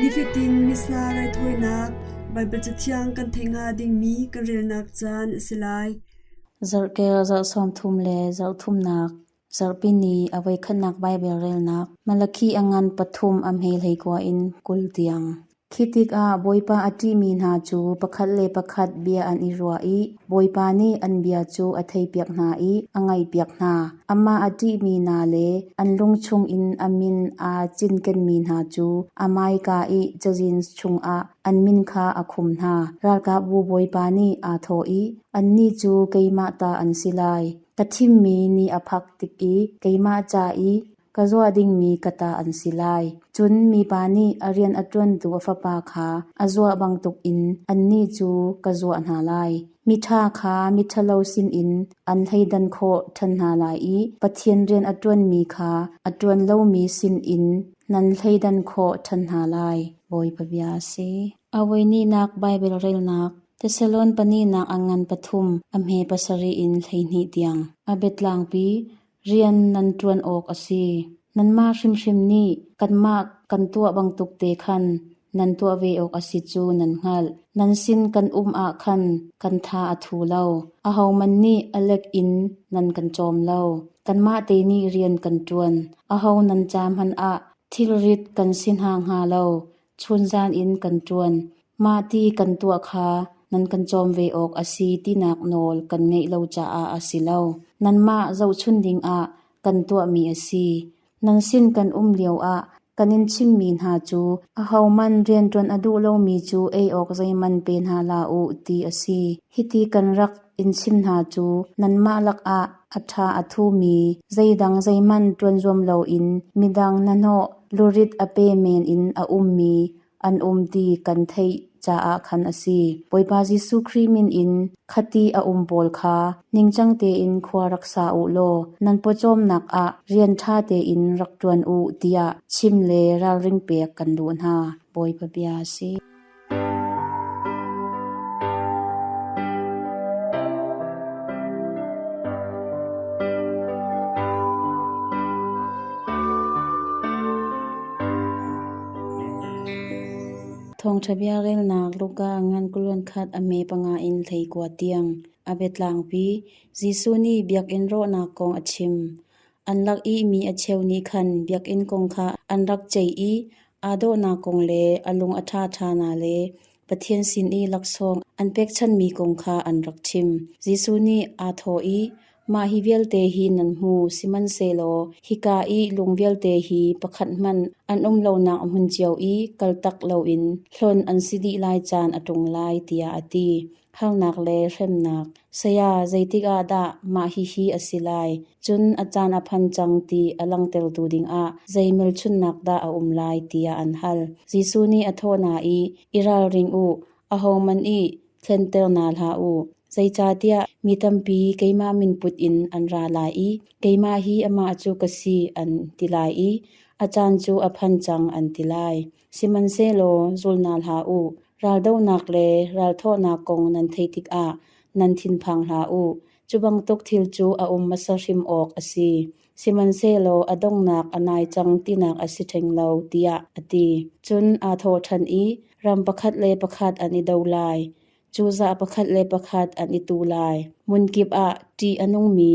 Nifatin missa raithawinak Baibal Cathiang kan theih hnga dingmi kan relnak caan a si lai. Zarhkel zarh sawmthum le zarh thumnak zarhpini a voikhatnak Baibal relnak Malakhi a ngan pathum a hmeihlei kua in kul tiang. Khi tikah Bawipa a ṭihmi hna cu pakhat le pakhat bia an i ruah i Bawipa nih an bia cu a theipiak hna i a ngaihpiak hna. Amah a ṭihmi hna le an lung chungin a min aa cinkenmi hna cu Amaika i cazin chungah an min kha a khum hna. Ralkapbu bawipa nih aa thawh i, “Annih cu keimah ta an si lai. Ka thimmi ni a phak tik i keimah ca i ka zuah dingmi ka ta an si lai. Cun mipa nih a rian a ṭuantu a fapa kha a zuah bantukin annih cu ka zuah hna lai. Miṭha kha miṭhalo sinin an thleidan khawh ṭhan hna lai i Pathian rian a ṭuanmi kha a ṭuan lomi sinin nan thleidan khawh ṭhan hna lai, Bawipa bia a si. A voi hnihnak Baibal relnak Thesalon pa nihnak an ngan pathum a hme pasarih in hleihnih tiang a biatlangpi Rian nan ṭuan awk a si. Nanmah hrimhrim nih kanmah kan tuah bantuk te khan nan tuah ve awk a si cu nan hngalh. Nan sin kan um ah khan kan tha a thu lo. Ahohmanh nih a lek in nan kan cawm lo. Kanmah te nih rian kan ṭuan. Aho nan ca hmanh ah thilrit kan si hna hnga lo. chunzan in kan ṭuan, mah ti kan tuah kha nan kan cawm ve awk a si tinak nawl kan ngeih lo caah a si lo. Nanmah zohchunh dingah kan tuahmi a si. Nan sin kan um lioah kan in chimmi hna cu ahohmanh rianṭuan a duh lomi cu ei awk zeihmanh pe hna hlah u, ti a si. Hiti kan rak in chim hna cu nanmah lakah a ṭha a thumi zeidang zeihmanh ṭuan zuam loin midang hnahnawh lurit a pe men in a ummi an um ti kan theih caah khan a si. Bawipa Jesuh Khrih min in khati a um pawl kha ningcang tein khua rak sa u law nan pawcawmnak ah rian ṭha tein rak ṭuan u tiah chim le ralring pek kan duh hna. Bawipa bia a si. Thawngṭha biarelnak Luka ngan kulun khat a me panga in hlei kua tiang a biatlangpi. Jesuh nih biakinn rawhnak kong a chim. An lak i mi a cheu nih khan biakinn kong kha an rak ceih i Aa dawhnak kong le a lung a ṭhaṭhana le Pathian sin i laksawng an pekchanhmi kong kha an rak chim. Jesuh nih aa thawh i, “Mah hi vialte hi nan hmu, sihmanhsehlaw hika i lung vialte hi pakhat hmanh an um lonak a hmun cio i kaltak loin hlon an si dih lai caan a ṭung lai,” tiah a ti. Harnak le hremnak Saya zeitik ah dah mah hihi a si lai? Cun a caan a phan cang ti a langhtertu dingah zei hmelchunhnak dah a um lai tiah an hal. Jesuh nih a thawh hna i, i ralring u, ahohmanh i thlenter hna hlah u. Zeicahtiah mi tampi keimah min put in an ra lai i keimah hi amah cu ka si an ti lai i a caan cu a phan cang an ti lai. Sihmanhsehlaw zul hna hlah u, raldohnak le ralthawhnak kong nan theih tikah nan thinphang hlah u. Cu bantuk thil cu a um hmasa hrim awk a si, sihmanhsehlaw a donghnak a nai cang tinak a si ṭheng lo, tiah a ti. Cun aa thawh ṭhan i, Ram pakhat le pakhat an i do lai. Cozah pakhat le pakhat an i tu lai. Hmunkip ah ṭih a nungmi,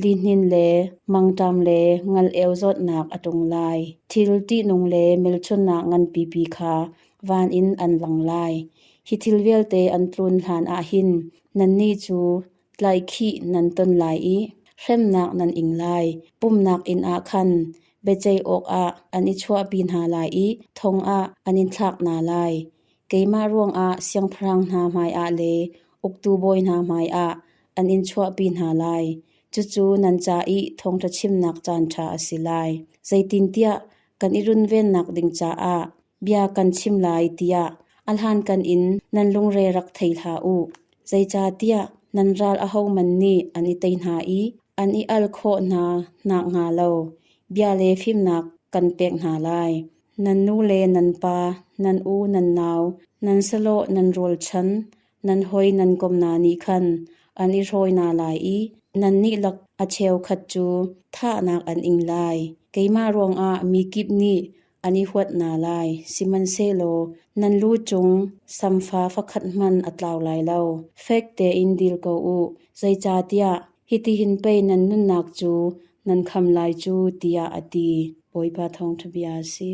lihnin le mangṭam le ngal-eu zawtnak a ṭung lai. Thil ṭihnung le hmelchunhnak nganpipi kha van in an lang lai. Hi thil vialte an tlun hlanah hin nannih cu tlaihkhih nan ton lai i hremnak nan ing lai. Pumhnak inn ah khan biaceih awkah an i chuahpi hna lai i thong ah an in thlak hna lai. Keimah ruangah siangpahrang hna hmaiah le uktu bawi hna hmaiah an in chuahpi hna lai; cucu nan ca i thawngṭha chimnak caanṭha a si lai. Zeitintiah kan i runvennak ding caah bia kan chim lai tiah a hlankan in nan lungre rak thei hlah u. Zeicahtiah nan ral ahohmanh nih an i tei hna i an i al khawh hna nakhnga lo bia le fimnak kan pek hna lai. Nan nu le nan pa, nan u nan nau, nan salawh nan rawlchan, nan hawi nan kom hna nih khan an i hrawi hna lai i nannih lak a cheukhat cu thahnak an ing lai. Keimah ruangah mikip nih an i huat hna lai, sihmanhsehlaw nan lu cung samfa fakhat hmanh a tlau lai lo. Fek tein dil ko u, zeicahtiah Hitihin pei nan nunnak cu nan kham lai cu, tiah a ti, Bawipa thawngṭhabia a si.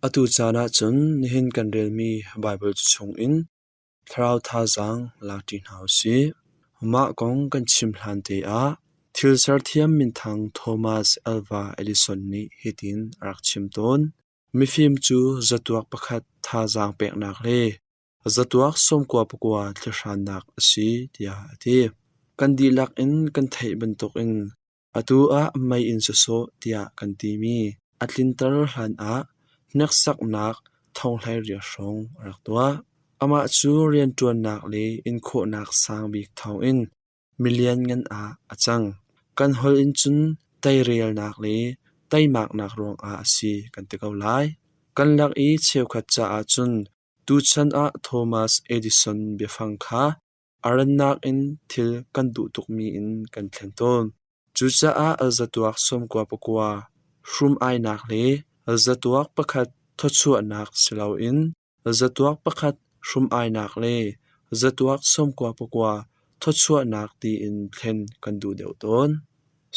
Atu caan ah cun nihin kan relmi Baibal cu chungin Thlarau thazaang lak ṭi hna u sih. Mah kong kan chim hlante ah thil serthiam minthang Thomas Alva Edison nih hitin a rak chim tawn: Mifim cu zatuak pakhat thazaang peknak le zatuak sawmkua pakua thlihrannak a si tiah a ti. Kan dihlak in kan theih bantukin Atu ah mei in sawsawh tiah kan timi a tlinter hlanah hneksaknak thonghlei hrawng a rak tuah. Amah cu rianṭuannak le inkhawhnak sang bik thawngin mi lianngan ah a cang. Kan holh in cun teirelnak le teimaknak ruangah a si kan ti ko lai. Kan lak i cheukhat caah cun tuchan ah Thomas Edison biafang kha A rannak in thil kan duh tukmi in kan thlen tawn. Cucaah alzatuak sawmkua pakua, hrum-ainak le alzatuak pakhat thawchuahnak si loin alzatuak pakhat hrum-ainak le alzatuak sawmkua pakua thawchuahnak tiin thlen kan duh deuh tawn.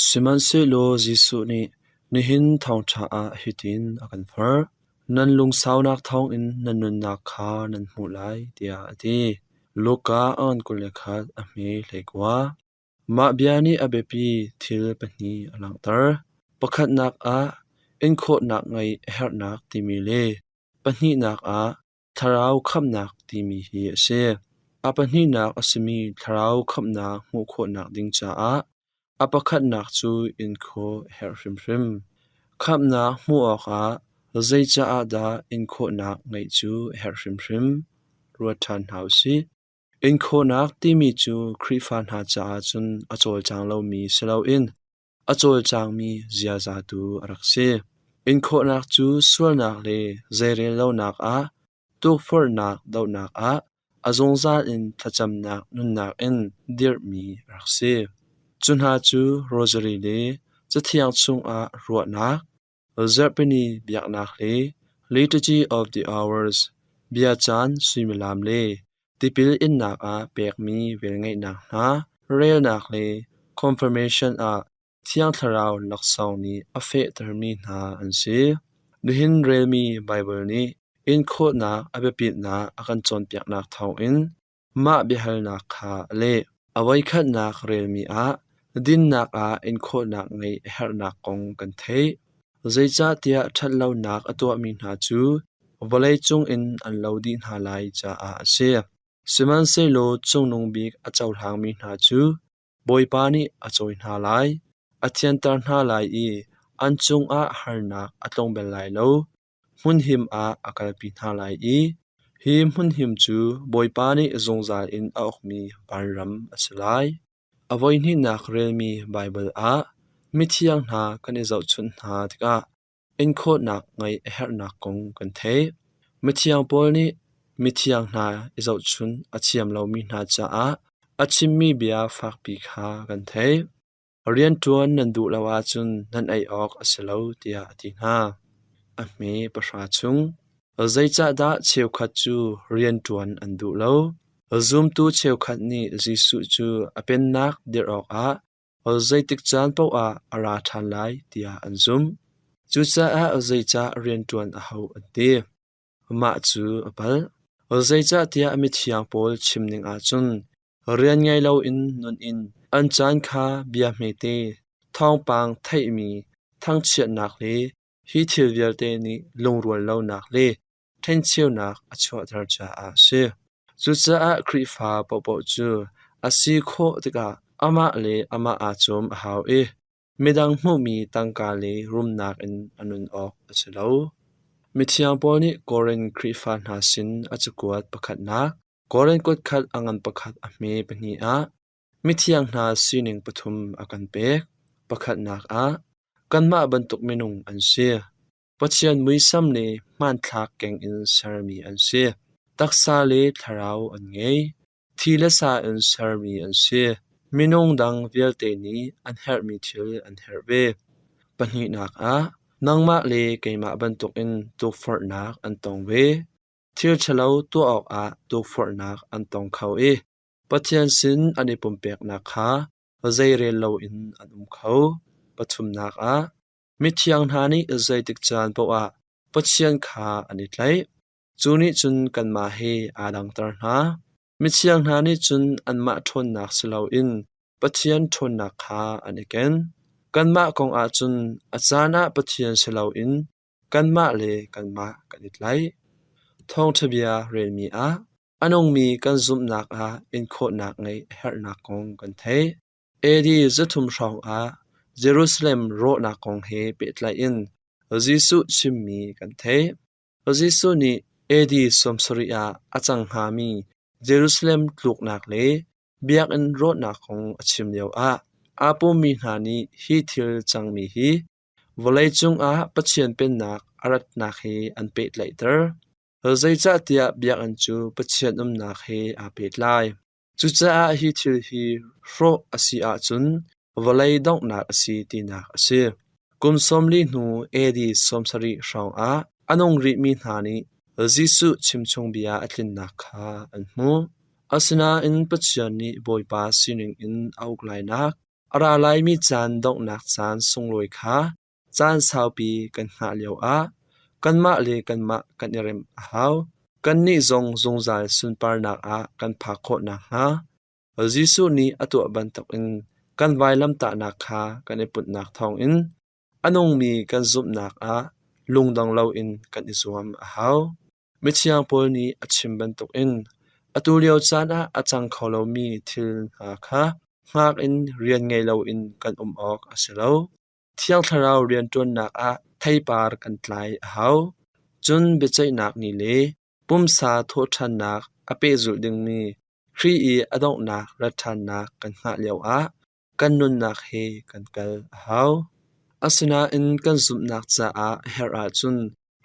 Sihmanhsehlaw Jesuh nih nihin thawngṭha ah hitin a kan forh: Nan lungsaunak thawngin na nunnak kha nan hmuh lai tiah a ti. Luka a on kul le khat a hme hleikua. Mah bia nih a biapi thil pahnih a langhter. Pakhatnak ah inkhawhnak ngeih a herhnak timi le pahnihnak ah Thlarau khamhnak timi hi a si. A pahnihnak a simi thlarau khamhnak hmuh khawhnak ding caah a pakhatnak cu inkhawh a herh hrimhrim. Khamhnak hmuh awkah zeicah ah dah inkhawhnak ngeih cu a herh hrimhrim? Ruat ṭhan hna u sih. Inkhawhnak timi cu Khrihfa hna caah cun a cawlcang lomi si loin a cawlcangmi ziaza tu a rak si. Inkhawhnak cu sualnak le zeirellonak ah, tukforhnak dohnak ah, a zungzal in thlacamnak nunnak in dirhmi a rak si. Cu hna cu rosary le Cathiang chungah ruahnak, Zarhpini biaknak le Liturgy of the Hours, biacaan suimilam le tipil innak ah pekmi velngeihnak hna relnak le confirmation ah Thiang Thlarau laksawng nih a fehtermi hna an si. Nihin relmi Baibal nih inkhawhnak a biapitnak a kan cawnpiaknak thawngin Mah biahalnak kha a leh. A voikhatnak relmi ah dinnak ah inkhawhnak ngeih a herhnak kong kan theih. Zeicahtiah ṭhatlonak a tuahmi hna cu vawleicung in an lo dih hna lai caah a si. Sihmanhsehlaw Cungnung Bik a cohlangmi hna cu Bawipa nih a cawi hna lai, a thianter hna lai i an cungah harnak a tlung bel lai lo. hmunhim ah a kalpi hna lai i hi hmunhim cu Bawipa nih zungzal in a ukmi vanram a si lai. A voihnihnak relmi Baibal ah mithiang hna kan i zohchunh hna tikah inkhawhnak ngeih a herhnak kong kan theih. Mithiang Paul nih mithiang hna i zohchunh a thiam lomi hna caah a chimmi bia fakpi kha kan theih. Rianṭuan nan duh lo ahcun nan ei awk a si lo tiah a ti hna. A hme pahra chung, zeicahdah cheukhat cu rianṭuan an duh lo? Zumtu cheukhat nih Jesuh cu a pennak dirh awkah zeitik caan paohah a ra ṭhan lai tiah an zumh. Cucaah zeicah rianṭuan a hauh an ti? Mah cu a palh. Zeicahtiah a mithiang pawl chim dingah cun rian ngei loin nun in an caan kha bia hmete, thawngpang theihmi thangchiatnak le hi thil vialte nih lungrual lonak le ṭhencheunak a chuahter caah a si. Cucaah Khrihfa paohpaoh cu a si khawh tikah amah le amah aa cawm a hau i Midang hmuhmi tangka le rumnak in a nun awk a si lo. Mithiang Paul nih Korinth Khrihfa hna sin a cakuat pakhatnak, Korinth kutkhat a ngan pakhat a hme pahnih ah mithiang hna sining pathum a kan pek. Pakhatnak ah, kanmah bantuk minung an si. Pathian muisam le hmanthlak keng in sermi an si. Taksa le thlarau an ngei. Thi le sa in sermi an si. Minung dang vialte nih an herhmi thil an herh ve. Pahnihnak ah, nangmah le keimah bantukin tukforhnak an tong ve. Thil ṭhalo tuah awkah tukforhnak an tong kho i Pathian sin an i pumpeknak kha zeirel loin an um kho. Pathumnak ah, mithiang hna nih zeitik caan paoh ah Pathian kha an i tlaih. Cu nih cun kanmah he aa dangter hna. Mithiang hna nih cun anmah ṭhawnnak si loin Pathian ṭhawnnak kha an i ken. Kanmah kongah cun a caan ah Pathian si loin kanmah le kanmah kan i tlaih. Thawngṭha bia relmi ah a nungmi kan zumhnak ah inkhawhnak ngeih a herhnak kong kan theih. Edi zathum hrawngah Jerusalem rawhnak kong he pehtlai in Jesuh chimmi kan theih. Jesuh nih AD sawmsarih ah a cang hngami Jerusalem tluknak le biakinn rawhnak kong a chim lioah aa pummi hna nih hi thil cangmi hi vawleicung ah Pathian Pennak a ratnak he an pehtlaihter, zeicahtiah biakinn cu Pathian umnak he aa pehtlai. Cucaah hi thil hi hrawh a si ahcun vawlei donghnak a si tinak a si. Kum sawmli hnu AD sawmsarih hrawngah a nung rihmi hna nih Jesuh chimchungbia a tlinnak kha an hmuh. Asinain Pathian nih Bawipa sining in a uk lainak, a ra laimi caan donghnak caan sunglawi kha Caan saupi kan hngah lioah kanmah le kanmah kan i remh a hau. Kannih zong zungzal sunparnak ah kan phak khawh nakhnga Jesuh nih a tuah bantukin kan vailamtahnak kha kan i putnak thawngin a nungmi kan zumhnak ah lungdong loin kan i zuam a hau. Mithiang Paul nih a chim bantukin atu lio caan ah a cang kho lomi thil hna kha hngak in rian ngei loin kan um awk a si lo. Thiang Thlarau rianṭuannak ah theipar kan tlai a hau, cun biaceihnak ni le pumsa thawhṭhannak a pehzulh dingmi Khrih i a donghnak rat ṭhannak kan hngah lioah kan nunnak he kan kal a hau. Asinain kan zumhnak caah a herh ahcun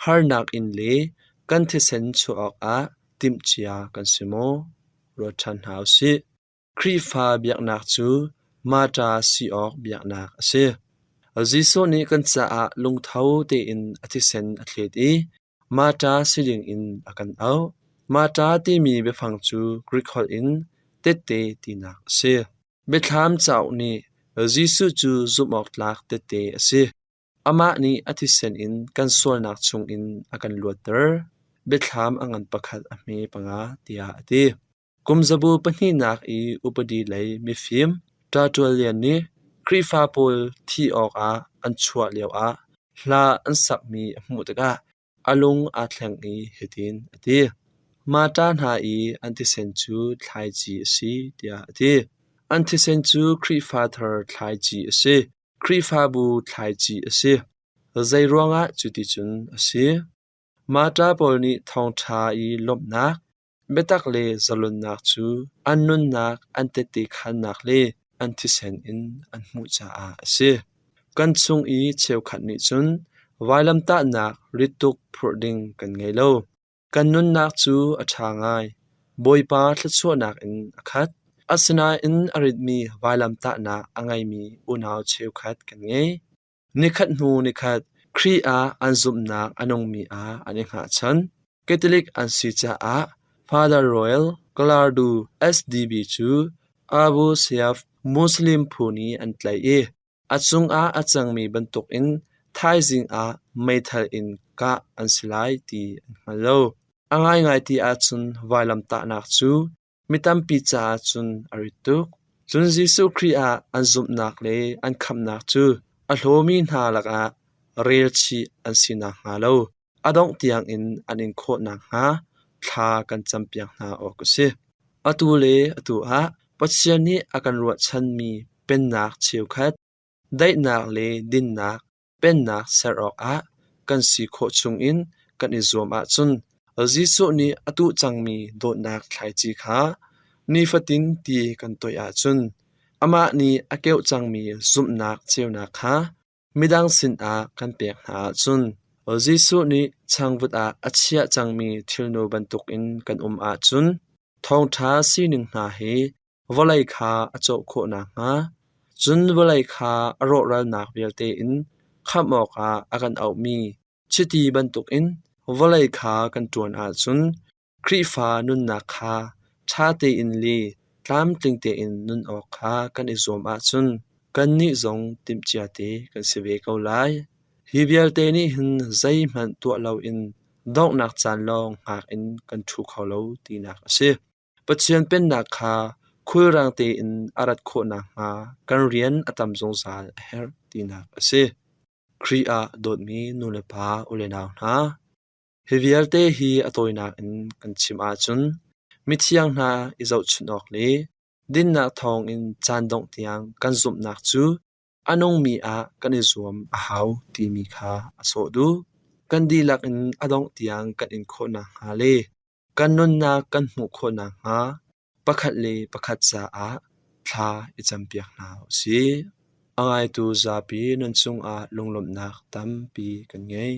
harnak in le kan thisen chuah awkah timhcia kan si maw? Ruat ṭhan hna u sih. Khrihfa biaknak cu Marta si awk biaknak a si. Jesuh nih kan caah lungtho tein a thisen a thlet i Marta si dingin a kan auh. Marta timi biafang cu Grik holh in tehte tinak a si. Biathlam cauk nih Jesuh cu zumhawktlak tehte a si. Amah nih a thisen in kan sualnak chungin a kan luatter. Biathlam a ngan pakhat a hme panga tiah a ti. Kumzabu pahnihnak i upadi lei mifim Ṭa Ṭual Lian nih Khrihfa pawl thi awkah an chuah lioah hla an sakmi a hmuh tikah a lung aa thleng i hitin a ti: Mah ṭa hna i an thisen cu thlaici a si tiah a ti. An thisen cu Khrihfa thar thlaici a si, Khrihfabu thlaici a si. Zeiruangah cuticun a si? Mah ṭa pawl nih thawngṭha i lawmhnak, Biatak le zalonnak cu an nunnak an tette khannak le an thisen in an hmuh caah a si. Kan chung i cheukhat nih cun vailamtahnak rit tuk phurh ding kan ngei lo. Kan nunnak cu a ṭha ngai. Bawipa thluachuahnak in a khat. Asinain a ritmi vailamtahnak a ngeimi unau cheukhat kan ngei. Nikhat hnu nikhat Khrih ah an zumhnak a nungmi ah an i hngahchan. Catholic an si caah Father Royal Galardo SDB cu Abu Sayyaf Muslim phu nih an tlaih i a cungah a cangmi bantukin thaizing ah meithal in kah an si lai ti an hngal lo. A ngaingai ti ahcun vailamtahnak cu Mi tampi caah cun a rit tuk. Cun Jesuh Khrih ah an zumhnak le an khamhnak cu a hlawmi hna lakah relchih an si nakhnga lo a dongh tiangin an in khawh nakhnga thla kan campiak hna awk a si. Atu le atu ah Pathian nih a kan ruahchanmi Pennak cheukhat, daihnak le dinnak, Pennak ser awkah kan si khawh chungin kan i zuam ahcun Jesuh nih a tuh cangmi dawtnak thlaici kha nifatin ti kan toih ahcun amah nih a keuh cangmi zumhnak ceunak kha midang sinah kan pek hna ahcun Jesuh nih changvut ah a chiah cangmi thilnu bantukin kan um ahcun thawngṭha sining hna hi vawlei kha a cawh khawh nakhnga, cun vawlei kha a rawhralnak vialte in khamh awkah a kan auhmi chiti bantukin vawlei kha kan ṭuan ahcun Khrihfa nunnak kha ṭha tein le tlamtling tein nun awk kha kan i zuam ahcun kannih zong timhcia te kan si ve ko lai. Hi vialte nih hin zeihmanh tuah loin donghnak caan lawng ngak in kan ṭhu kho lo tinak a si. Pathian Pennak kha khulrang tein a rat khawh nakhnga kan rian a tam zungzal a herh tinak a si. Khrih ah dawtmi nulepa ulenau hna, hi vialte hi a tawinak in kan chim ahcun mithiang hna i zohchunh awk le dinnak thawngin caan dongh tiang kan zumhnak cu a nungmi ah kan i zuam a hau timi kha a sawh duh. Kan dihlak in a dongh tiang kan in khawh nakhnga le Kan nunnak kan hmuh khawh nakhnga pakhat le pakhat caah thla i campiak hna u sih. A ngaitu zapi nan cungah lunglawmhnak tampi kan ngei.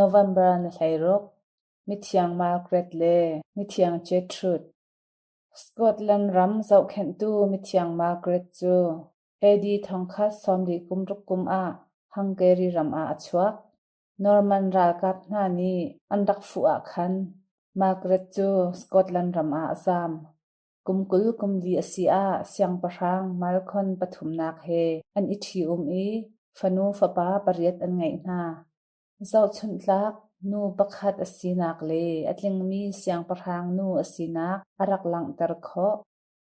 November na hlei ruk, mithiang Margaret le mithiang Gertrude. Scotland ram zohkhenhtu mithiang Margaret cu AD thong khat sawmli kum ruk kum ah Hungary ram ah a chuak. Norman ralkap hna nih an rak fuh ah khan Margaret cu Scotland ram ah a zaam. Kum kul kum li a si ah siangpahrang Malcolm pathumnak he an i ṭhium i fanu fapa pariat an ngeih hna. Zohchunhtlak, nu pakhat a sinak le a tlingmi siangpahrang nu a sinak a rak langhter khawh.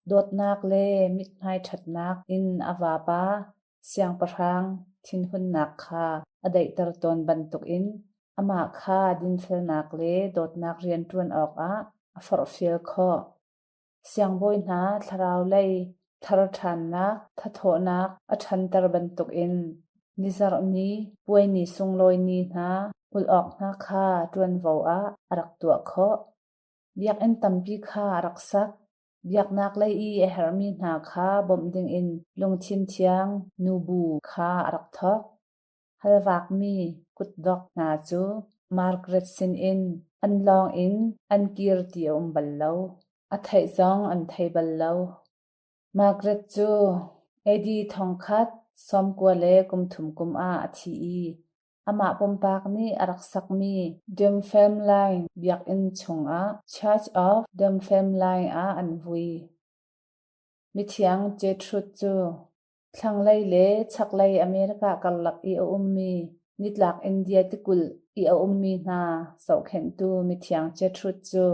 Dawtnak le mithmai ṭhatnak in a vapa, siangpahrang, thinhunnak kha a daihter tawn bantukin amah kha dinfelnak le dawtnak rian ṭuan awkah a forhfial khawh. Siangbawi hna thlaraulei tharṭhannak thathawhnak a ṭhanter bantukin nizarh ni puai ni sunglawi ni hna ulh awk hna kha ṭuanvo ah a rak tuah khawh. Biakinn tampi kha a rak sak. Biaknaklei i a herhmi hna kha bawmh dingin lungthin thiang nu bu kha a rak thawk. Hal vakmi kutdok hna cu Margaret sinin an lawng in an kir ti a um bal lo. A theih zong an thei bal lo. Margaret cu Eddie thongkhat sawmkua le kumthum kum ah a thi i amah pumpak nih a rak sakmi Dunfermline biakinn chungah Church of Dunfermline ah an vui. Mithiang Gertrud cu Thlanglei le chaklei America karlak i a ummi, nitlak India tikulh i a ummi hna zohkhenhtu mithiang Gertrud cu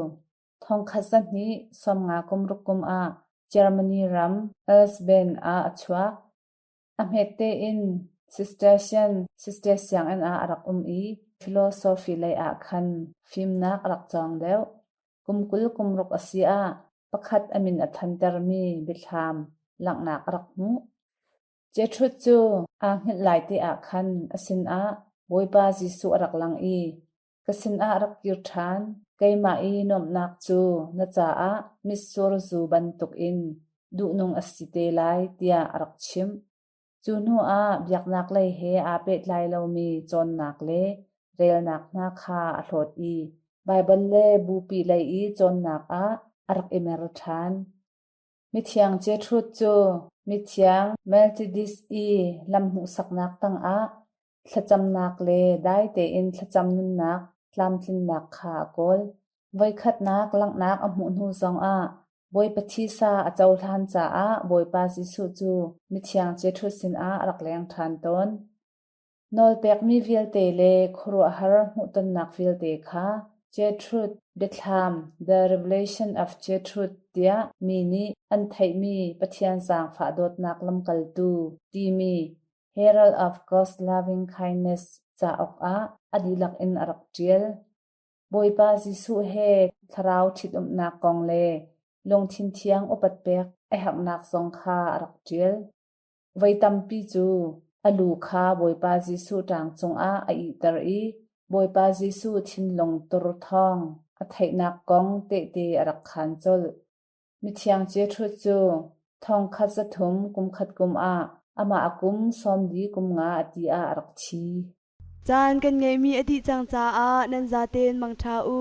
thongkhat zahnih sawmnga kumruk kum ah Germany ram Elsbeth ah a chuak. A hmette in Cistercian sister sianginn ah a rak um i philosophy lei ah khan fimnak a rak cawng deuh. Kum kul kum ruk a si ah pakhat a min a thantermi biathlam langhnak a rak hmuh. Jetrud cu aa hngilh lai te ah khan a sinah Bawipa Jesuh a rak lang i, Ka sinah rak kir ṭhan, keimah i nuamhnak cu na caah mitsur zu bantukin duhnung a si te lai, tiah a rak chimh. Cu hnuah biaknaklei he aa pehtlai lomi cawnnak le relnak hna kha a hlawt i Baibal le bupi lei i cawnnak ah a rak i mer ṭhan. Mithiang Jetrud cu mithiang Melchidis i lam hmuhsaknak tangah Thlacamnak le dai tein thlacam nunnak tlamtlinnak kha a kawl. Voikhatnak langhnak a hmuh hnu zongah Bawipa thisa a cohlan caah Bawipa Jesuh cu Mithiang Jesuh sinah a rak leng ṭhan tawn. Nawlpekmi vialte le khuaruahhar hmuhtonnak vialte kha Jesuh Biathlam The Revelation of Jesuh tiah mi nih an theihmi Pathian Zaangfah Dawtnak Lamkaltu timi Herald of God's Loving Kindness cauk ah a dihlak in a rak ṭial. Bawipa Jesuh he thlarau ṭhitumnak kong le lungthin thiang upat pek a herhnak zong kha a rak ṭial. Voi tampi cu a lu kha Bawipa Jesuh ṭang cungah a ihter i Bawipa Jesuh thinlung tur thawng a theihnak kong tehte a rak khaan colh. Mithiang Jesuh cu thong khat zathum kum khat kum ah amah a kum sawmli kum nga a ti ah a rak thi. Caan kan ngeihmi a dih cang caah nan zatein mangṭha u.